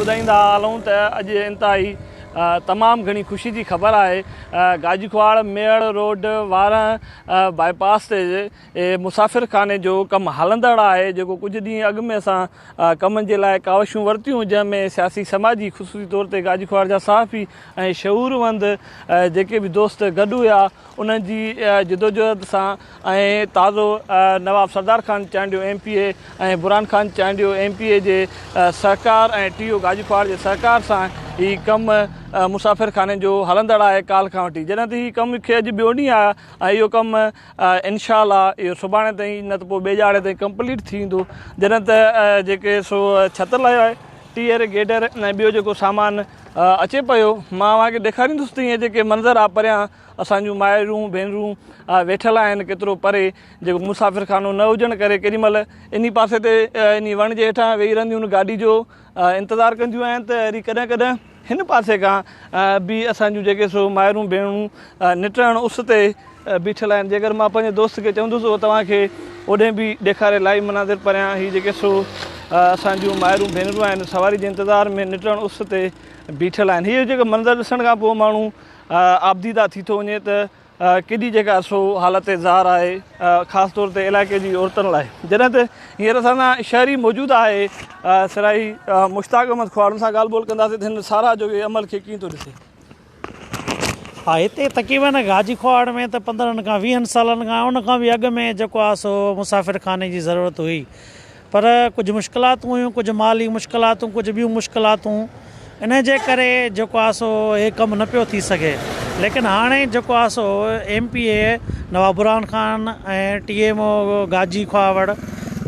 ٻڌائيندا هلون ته اڄ انتهائي تمام گهڻي خوشي جي خبر آهي گاجيڪواڙ ميڙ روڊ وارهن باء پاس تي مسافر خاني جو ڪم هلندڙ آهي جيڪو ڪجهه ڏينهن اڳ ۾ اسان ڪم جي لاء ڪاوشون ورتيون جنهن ۾ سياسي سماجي خصوصي طور تي گاجيڪواڙ جا صحافي ۽ شعور وند جيڪي به دوست گڏ هيا انهن جي جدوجهد سان ۽ تازو Nawab Sardar Khan Chandio M P A ۽ Burhan Khan Chandio M P A جي سهڪار ۽ ٽي او گاجوخواڙ جي سهڪار سان هي ڪم مسافر خاني جو هلندڙ آهي ڪالھ کان وٺي جڏهن ته هي ڪم کي اڄ ٻيو ڏينهن آهي ۽ اهو ڪم انشاء الله اهو سڀاڻي تائين نه ته پوء ٻيڄاڙي تائين ڪمپليٽ ٿي ويندو جڏهن ته جيڪي سو ڇت لاهيو آهي ٽيئر گيڊر ۽ ٻيو جيڪو سامان اچي پيو مان اوهان کي ڏيکاريندس ته هي جيڪي منظر آهي پريان اسان جون مائرون، ڀينرون ويٺل آهن ڪيترو پري، جيڪو مسافر خانو نه هجڻ ڪري ڪيڏي مهل انهي پاسي تي انهي وڻ جي هيٺان ويهي رهنديون گاڏي جو انتظار ڪنديون آهن ته وري ڪڏهن ڪڏهن هن پاسي کان به اسان جون جيڪي سو مائرون ڀينرون نٽهڻ اس تي بيٺل آهن جيڪر مان پنهنجي دوست کي چوندس هو توهان کي اوڏهين به ڏيکاري لائيو مناظر پريان هي جيڪي سو اسان جون مائرون ڀينرون آهن سواري جي انتظار ۾ نٽهڻ اس تي بيٺل آهن هي جيڪو منظر ڏسڻ کان پوء ماڻهو آبديده ٿي ٿو وڃي ته ڪيڏي جيڪا سو حالت زار آهي خاص طور تي علائقي جي عورتن لاء جڏهن ته هينئر اسان سان شهري موجود آهي سرائي مشتاق احمد کهاڙ ان سان ڳالهه ٻولهه ڪنداسين ته هن ساراهه جو اهي عمل کي ڪيئن ٿو ڏسي ها هتي تقريبن گاجي کهاڙ ۾ ته پندرهن کان ويهن سالن کان ان کان به اڳ ۾ جيڪو آهي سو مسافر خاني جي ضرورت هئي پر ڪجهه مشڪلاتون هيون، ڪجهه مالي مشڪلاتون، ڪجهه ٻيون مشڪلاتون، انهيء جي ڪري جيڪو آهي سو هي ڪم نه پيو ٿي سگهي، ليڪن هاڻي جيڪو آهي سو M P A Nawab Burhan Khan ۽ T M O Gaji Khahawar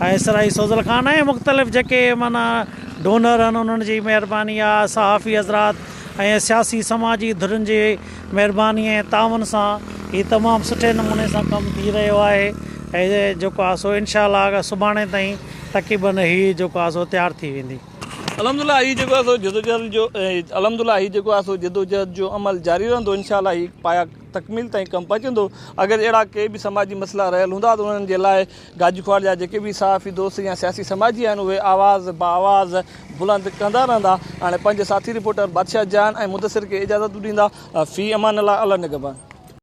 ۽ Sarai Suzal Khan ۽ مختلف جيڪي معنيٰ ڊونر آهن انهن جي مهرباني آهي، صحافي حضرات ۽ سياسي سماجي ڌرين جي مهرباني ۽ تعاون سان هي تمام سٺي نموني سان ڪم ٿي رهيو آهي ۽ جيڪو آهي سو انشاء الله سڀاڻي تائين تقريباً هي جيڪو آهي سو تيار ٿي ويندي. الحمد لله هي جيڪو آهي سو جدوجهد جو الحمد لله هي جيڪو آهي سو جدوجهد جو عمل جاري رهندو انشاء الله هي پايا تڪميل تائين ڪم پهچندو اگر اهڙا ڪي به سماجي مسئلا رهيل هوندا ته انهن جي لاء گاجي ڪوار جا جيڪي به صحافي دوست يا سياسي سماجي آهن اهي آواز بآواز بلند ڪندا رهندا هاڻي پنهنجي ساٿي رپورٽر بادشاهه جان ۽ مدثر کي اجازت به ڏيندا في امان الله الله نگهبان.